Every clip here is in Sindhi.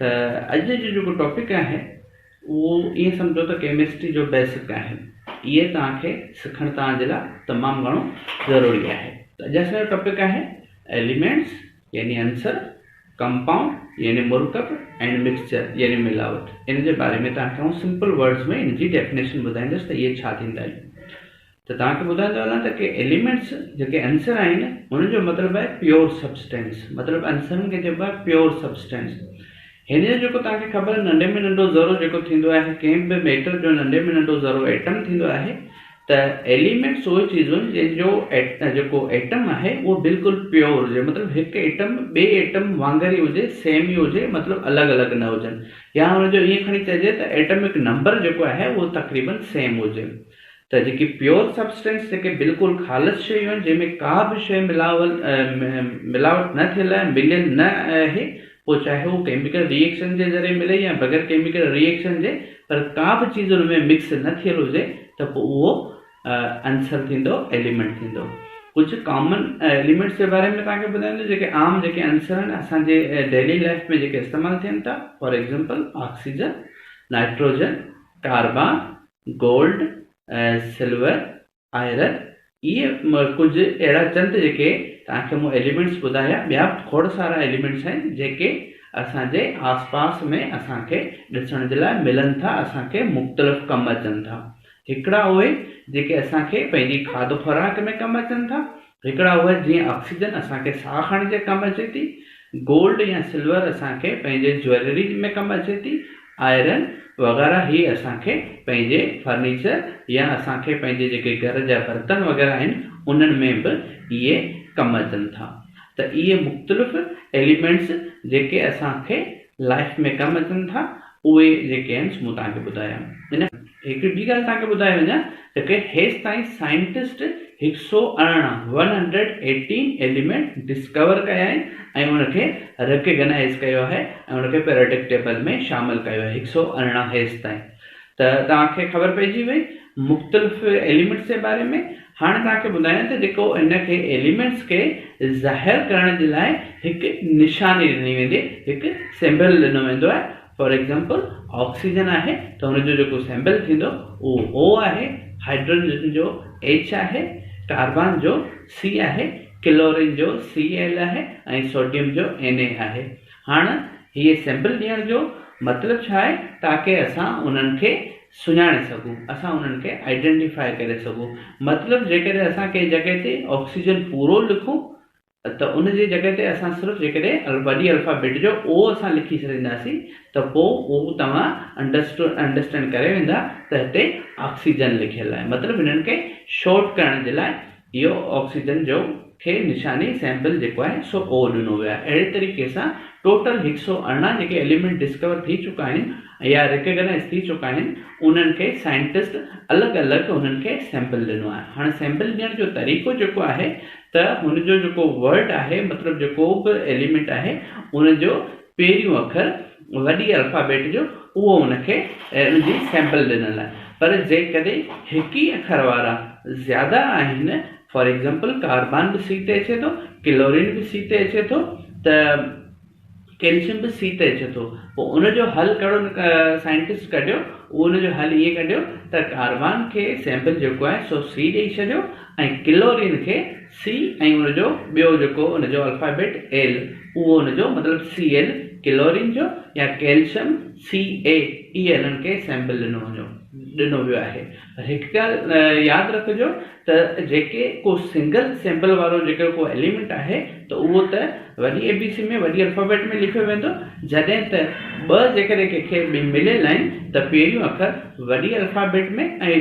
ته اڄ جو جيڪو ٽاپڪ آهي اهو ائين سمجهو ته ڪيمسٽري جو بيسڪ آهن اهي توهان کي سکڻ توهان جي لاء تمام گهڻو ضروري آهي اڄ اسان جو ٽاپڪ آهي ايليمينٽس يعني عنصر ڪمپائونڊ يعني مرڪب اينڊ مڪسچر يعني ملاوٽ ان جي باري ۾ توهان کي آئون سمپل ورڊز ۾ ان جي ڊيفينيشن ٻڌائيندس ته اهي ڇا ٿيندا آهن ته توهان کي ٻڌائيندو هلان ته ڪي ايليمينٽس جيڪي عنصر آهن انهن جو مطلب آهي پيور سبسٽينس مطلب عنصرن کي چئبو آهي پيور سبسٽينس هن جو جيڪو توهان کي خبر ننڍي ۾ ننڍو ذرو جيڪو ٿيندو آهي ڪنهن به ميٽر جو ننڍي ۾ ننڍو ذرو ايٽم ٿيندو آهي ته ايليمينٽس اهي چيزون آهن جن جو جيڪو ايٽم آهي اهو بلڪل پيور هجي مطلب هڪ ايٽم ٻئي ايٽم وانگر ئي هجي سيم ئي هجي مطلب الڳ الڳ نه هجن يا هن جو ائين کڻي چئجي ته ايٽمڪ نمبر جيڪو آهي اهو تقريبن سيم هجي ته جيڪي پيور سبسٽنس جيڪي بلڪل خالص شيون آهن جنهن ۾ ڪا به شيء ملاول ملاوٽ نه ٿيل آهي مليل نه آهي پوء چاهي هو ڪيميڪل ري ايڪشن جي ذريعي ملي يا بغير ڪيميڪل ري ايڪشن جي پر ڪا به چيز ان ۾ مڪس نه ٿيل هجي ته پوء اهو عنصر ٿيندو ايليمنٽ ٿيندو ڪجهه ڪامن ايليمنٽس جي باري ۾ تنهنکي ٻڌائيندو جيڪي عام جيڪي عنصر آهن اسان جي ڊيلي لائف ۾ جيڪي استعمال ٿين ٿا for example oxygen nitrogen carbon gold, silver, iron اهي ڪجهه اهڙا چند جيڪي توهان کي مون ايليمينٽس ٻڌايا ٻيا به کوڙ سارا ايليمينٽس آهن جيڪي اسان جي آس پاس ۾ اسان کي ڏسڻ جي لاء ملن ٿا اسان کي مختلف ڪم اچن ٿا هڪڙا اهي جيڪي اسان کي پنهنجي کاڌ خوراڪ ۾ ڪم اچن ٿا هڪڙا هئا جيئن آڪسيجن اسان کي ساهه کڻڻ جي ڪم اچي ٿي، گولڊ يا سلور اسان کي پنهنجي جويلري ۾ ڪم اچي ٿي، آئرن وغيره هي اسان کي پنهنجي فرنيچر يا اسان کي پنهنجي جيڪي گهر جا برتن وغيره آهن انهن ۾ به اهي ڪم اچن ٿا ته اهي مختلف ايليمينٽس جيڪي اسان کي لائيف ۾ ڪم اچن ٿا اهي جيڪي آهن سو مون توهان کي ٻڌايا ان هڪڙي ٻي ڳالهه توهان کي ٻڌائي وڃان ته ڪي هيس تائين سائنٽسٽ هڪ سؤ ارڙهن one hundred eighteen element discover ڪيا آهن ۽ ان کي ريڪگنائيز ڪيو آهي ۽ ان کي پيريڊڪ ٽيبل ۾ شامل ڪيو آهي هڪ سؤ ارڙهن هيس تائين ته توهان کي خبر پئجي وئي مختلف ايليمينٽس جي باري ۾ هاڻي توهان کي ٻڌايون ته جيڪو ان کي ايليمينٽس کي ظاهر ڪرڻ جي لاء هڪ نشاني ڏني ويندي هڪ سيمبل ڏنو ويندو آهي فار ايگزامپل آڪسيجن آهي ته هن جو جيڪو سيمبل ٿيندو اهو او آهي هائڊروجن جو ايڇ آهي ڪاربان جو سي آهي ڪلورين جو سي ايل آهي ۽ سوڊيم جو اين اي آهي هاڻ هي سيمبل ڏيڻ جو مطلب ڇا آهي تاڪي اسان انهن کي سڃاڻي سگهون، اسان انهن کي Identify ڪري سگهون، مطلب جيڪڏهن اسان ڪنهن جڳهه تي آڪسيجن پورو لکون ته ان جي جڳهه تي اسان صرف جيڪڏهن وڏي الفابيٽ جو O اسان لکي ڇڏينداسين ته پوء اهو توهان Understand ڪري ويندا ته هتي آڪسيجن لکيل آهي مطلب هنن کي Short ڪرڻ جي لاء اهو آڪسيجن جو کي نشاني سيمپل جيڪو آهي سو او ڏنو ويو آهي اهڙي طريقي سان ٽوٽل هڪ سؤ ارڙهن جيڪي ايليمينٽ ڊسڪور ٿي چڪا آهن يا ريڪگنائز ٿي چڪا آهن انهن کي سائنٽسٽ الڳ الڳ انهن کي سيمپل ڏنو آهي هاڻي سيمپل ڏيڻ جو طريقو جيڪو آهي ته هن جو جيڪو ورڊ آهي مطلب جيڪو به ايليمينٽ آهي ان جو پهريون اکر وڏي الفابيٽ جو اهو ان کي ان جي سيمپل ڏنل آهي پر جيڪڏهن هڪ ئي اکر وارا زياده آهن فار ايگزامپل ڪاربان به سي تي اچي ٿو ڪلورين به سي تي اچي ٿو ته ڪيلشم به سي تي اچي ٿو پوء ان جو حل ڪهڙو سائنٽسٽ ڪڍيو اهو ان جو حل ائين ڪڍيو ته ڪاربان کي سيمپل جيڪو آهي سو سي ڏئي ڇڏيو ۽ ڪلورين کي سي ۽ ان جو ٻيو جيڪو ان جو الفابيٽ ايل اهو ان جو مطلب سي ايل ڪلورين جو يا ڪيلشم سي اي اهي انهن کي سيمبل ڏنو وڃو ڏنو ويو آهي پر هڪ ڳالهه ياد رکجو ته جيڪي ڪو سنگل سيمبل وارو جيڪو ڪو ايليمنٽ آهي ته اهو ته وڏي اي بي سي ۾ وڏي الفابيٽ ۾ لکيو ويندو جڏهن ته ٻه جيڪڏهن ڪنهن کي ٻئي مليل آهن ته پهريون اکر وڏي الفابيٽ ۾ ۽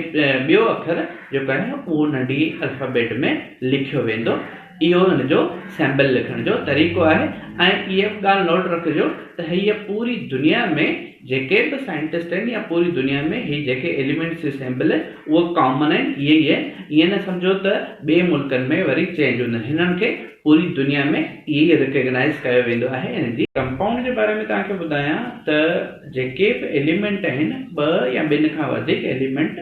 ٻيو اکر جيڪو آهي اهو ننڍي الفابيٽ ۾ لکيو ويندو اهو هن جو سيمبل لکڻ جو طريقو آهي ۽ هيء به ڳالهه نوٽ رکجو ته هيء پوري دنيا ۾ جيڪي به سائنٽسٽ آهن يا پوري دنيا ۾ هي جيڪي ايليمينٽس جي سيمبل آهن اهو ڪامن آهن ائين ئي آهن ائين نه سمجهو ته ٻئي ملڪن ۾ وري چينج هوندن هنن کي پوري دنيا ۾ ائين ئي ريڪگنائيز ڪيو ويندو آهي هن جي ڪمپائونڊ جي باري ۾ توهان کي ٻڌايان ته جيڪي به ايليمينٽ آهن ٻه يا ٻن کان وڌيڪ ايليمينٽ.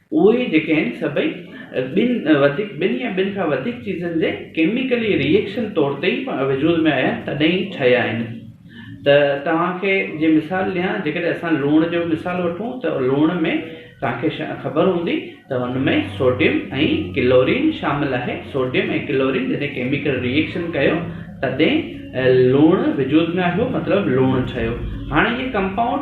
اهي جيڪي آهن سڀئي ٻن وڌيڪ ٻن يا ٻن کان وڌيڪ چيزن جي ڪيميڪلي ري ايڪشن طور تي ئي وجود ۾ آيا تڏهن ئي ٺهيا آهن ته توهان کي جي مثال ڏيان جيڪڏهن اسان لوڻ جو مثال وٺون ته لوڻ ۾ توهان کي خبر هوندي ته ان ۾ سوڊيم ۽ ڪلورين شامل آهي سوڊيم ۽ ڪلورين جڏهن ڪيميڪل ري ايڪشن ڪيو تڏهن لوڻ وجود ۾ آيو مطلب لوڻ ٺهيو هاڻي هي ڪمپائونڊ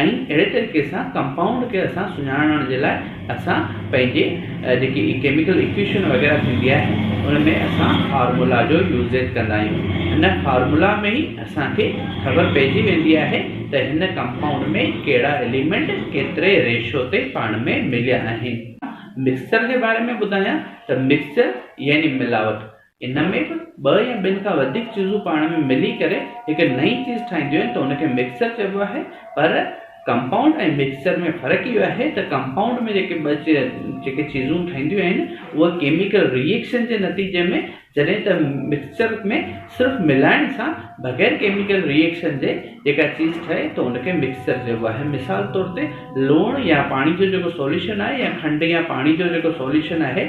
۽ اهڙي طريقي سان ڪمپائونڊ کي اسان سڃاڻڻ جي لاء اسان پنهنجي جيڪي ڪيميڪل ايڪويشن وغيره ٿيندي آهي ان ۾ اسان فارمولا جو يوزيج ڪندا آهيون ان فارمولا ۾ ئي اسان کي خبر پئجي ويندي آهي ته هن ڪمپائونڊ ۾ ڪهڙا اليمينٽ ڪيتري ريشو تي پاڻ ۾ مليا آهن. مڪسچر جي باري ۾ ٻڌايان ته مڪسچر يعني ملاوٽ ان ۾ به ٻه يا ٻن کان وڌيڪ چيزون پاڻ ۾ ملي ڪري هڪ نئين چيز ٺاهينديون آهن ته ان کي مڪسچر چئبو آهي پر ڪمپائونڊ ۽ مڪسچر ۾ فرق اهو آهي ته ڪمپائونڊ ۾ جيڪي ٻه جيڪي چيزون ٺهنديون آهن اهي ڪيميڪل ري ايڪشن جي نتيجي ۾ جڏهن ته مڪسچر ۾ صرف ملائڻ سان بغير ڪيميڪل ري ايڪشن جي جيڪا چيز ٺهي ته ان کي مڪسچر چئبو آهي مثال طور تي لوڻ يا پاڻي جو جيڪو سوليوشن آهي يا کنڊ يا پاڻي جو جيڪو سوليوشن آهي